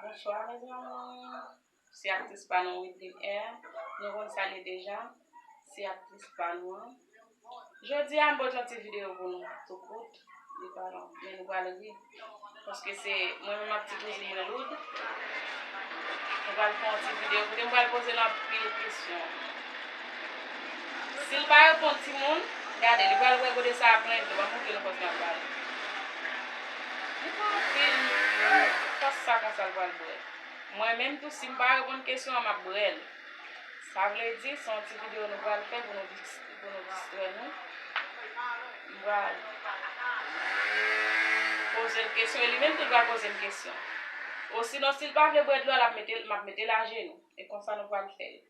Bonswa mes amours Se aktris pa nou Wideline Air Nou konn sa l ye deja Se aktris pa nou an Jodi a m pot yon ti videyo pou nou Tou kout Li pa long Men nou pral ri Paske se mwen menm ak ti kouzin mwen Loud Nou pral fè yon ti videyo kote m pral poze l anpil kesyon Sil pa reponn timoun, gade li pral wè gode sa a plen dlo, banm montre nou fòs lap bal. Li pran anpil fòs sa konsa l pral bwè. Mwen menm tou sim pa reponn kesyon an map brèl. Sa vle di se yon ti video nou pral fè pou nou distrè nou. M pral pozel kesyon e li menm tou li pral pozem kesyon. Osinon sil pa vle bwè dlo a map metel ajenou. E konsa nou pral fèl.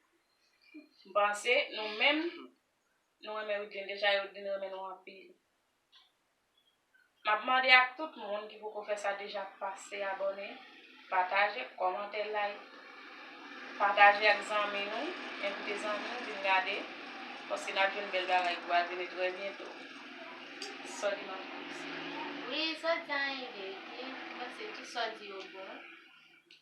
M panse nou menm nou renmen Wideline deja e Wideline renmen nou anpil. M ap mande ak tout moun ki poko fè sa deja pase abòne, pataje, kòmante, like. Pataje ak zanmi nou, envite zanmi w vin gade paske n ap jwenn bèl bagay ki pral vini trè byento. Sòdi m ap fè sa. Wi, sòdi an ede epi m panse tout sòdi yo bon.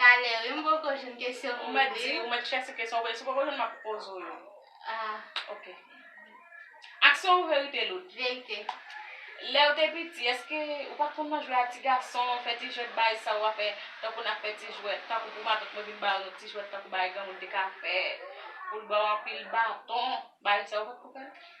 Talè wi m poko jwenn kesyon pou mande. Di ou mèt chèche kesyon pou mande. Si w poko jwenn m ap poze w yo. Ok. Aksyon ou verite lout? Verite. Lè ou te piti èske ou pa t konn nan jwe a ti gason, fè ti jwèt bay sa ou a fè tankou n ap fè ti jwèt, tankou pou matant mwen vin ba ou yon ti jwèt tankou bagay granmoun te ka fè pou l ba ou anpil baton, bagay sa ou pa t konn fè l?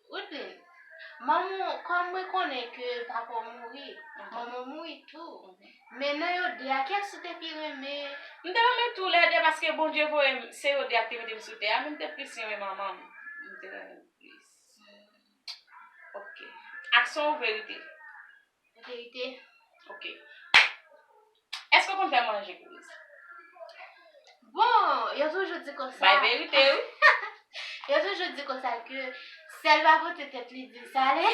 Rutn, Manman w, kòm mwen konnen ke papa w mouri, manman w mouri tou. Men nan yo de a, kiyès ou te pi renmen? M te renmen tou lè de paske Bondye voye m, se yo de a ki te mete m sou tè a, men m te plis renmen manman m. M te renmen l plis. Ok. Aksyon ou verite? Verite ok Eske ou konn fè manje Louise? Bon yo toujou di konsa Bay verite wi Yo toujou di konsa ke sèl pa pote tèt li dil sale.